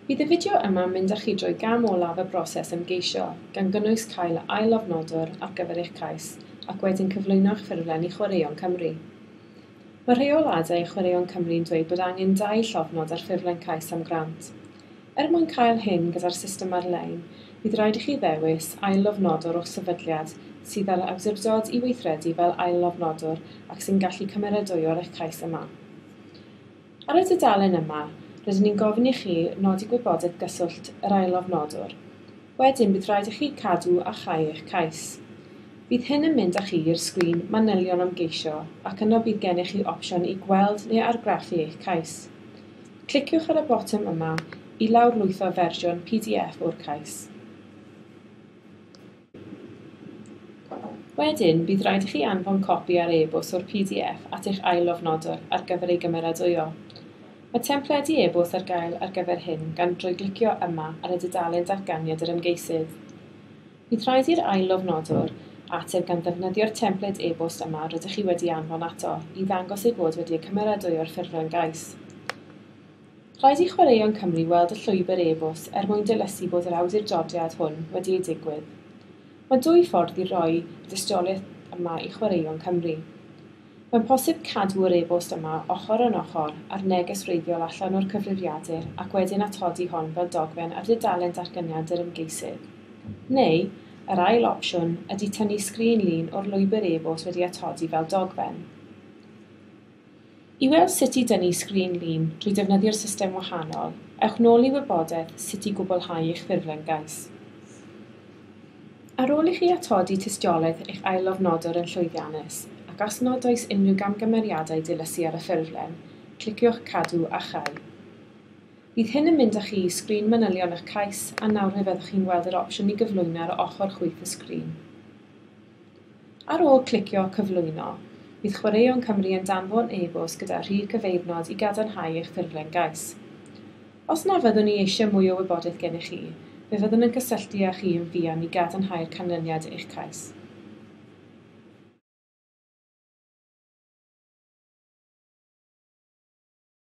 Bydd y fideo yma'n mynd â chi drwy gam olaf y broses ymgeisio, gan gynnwys cael ail-lofnodwr ar gyfer eich cais ac wedyn cyflwyno eich ffurflen i Chwaraeon Cymru. Mae rheoladau Chwaraeon Cymru'n dweud bod angen dau llofnod ar ffurflen cais am grant. Er mwyn cael hyn gyda'r system ar-lein, bydd rhaid i chi ddewis ail-lofnodwr o'ch sefydliad sydd â'r awdurdod i weithredu fel ail-lofnodwr ac sy'n gallu cymeradwyo'r eich cais yma. Ar y dudalen yma, rydyn ni'n gofyn i chi nodi gwybodaeth gyswllt yr ail-lofnodwr. Wedyn bydd rhaid i chi cadw a chau eich cais. Bydd hyn yn mynd â chi i'r sgrin manylion am geisio ac yno bydd gennych chi opsiwn i gweld neu argraffu eich cais. Cliciwch ar y botwm yma i lawrlwytho fersiwn pdf o'r cais. Wedyn, bydd rhaid i chi anfon copi ar e-bost o'r pdf at eich ail-lofnodwr ar gyfer ei gymeradwyo. Mae templedi e-bost ar gael ar gyfer hyn gan drwy glicio yma ar y dudalen Datganiad yr Ymgeisydd. Bydd rhaid i'r ail-lofnodwr ateb gan ddefnyddio'r templed e-bost yma rydych chi wedi anfon ato i ddangos ei bod wedi ei cymeradwyo'r ffurflen gais. Rhaid i Chwaraeon Cymru weld y llwybr e-bost er mwyn dilysu bod yr awdurdodiad hwn wedi ei digwydd. Mae dwy ffordd i roi y dystiolaeth yma i Chwaraeon Cymru. Mae'n posib cadw'r e-bost yma ochr yn ochr â'r neges wreiddiol allan o'r cyfrifiadur ac wedyn atodi hon fel dogfen ar dudalen datganiad yr ymgeisydd. Neu, yr ail opsiwn ydy tynnu sgrin lun o'r lwybr e-bost wedi atodi fel dogfen. I weld sut i dynnu sgrin lun drwy defnyddio'r system wahanol, ewch nôl i wybodaeth sut i gwblhau eich ffurflen gais. Ar ôl i chi atodi tystiolaeth eich ail-lofnodwr yn llwyddiannus, ac os nad oes unrhyw gamgymeriadau dilysu ar y ffurflen, cliciwch Cadw a Chau. Bydd hyn yn mynd â chi i sgrin manylion eich cais, a nawr fe fyddwch chi'n gweld yr opsiwn i gyflwyno ar ochr chwith y sgrin. Ar ôl clicio Cyflwyno, bydd Chwaraeon Cymru yn danfon e-bost gyda rhif cyfeirnod i gadarnhau eich ffurflen gais. Os na fyddwn ni eisiau mwy o wybodaeth gennych chi, fe fyddwn yn cysylltu â chi yn fuan i gadarnhau'r canlyniad eich cais.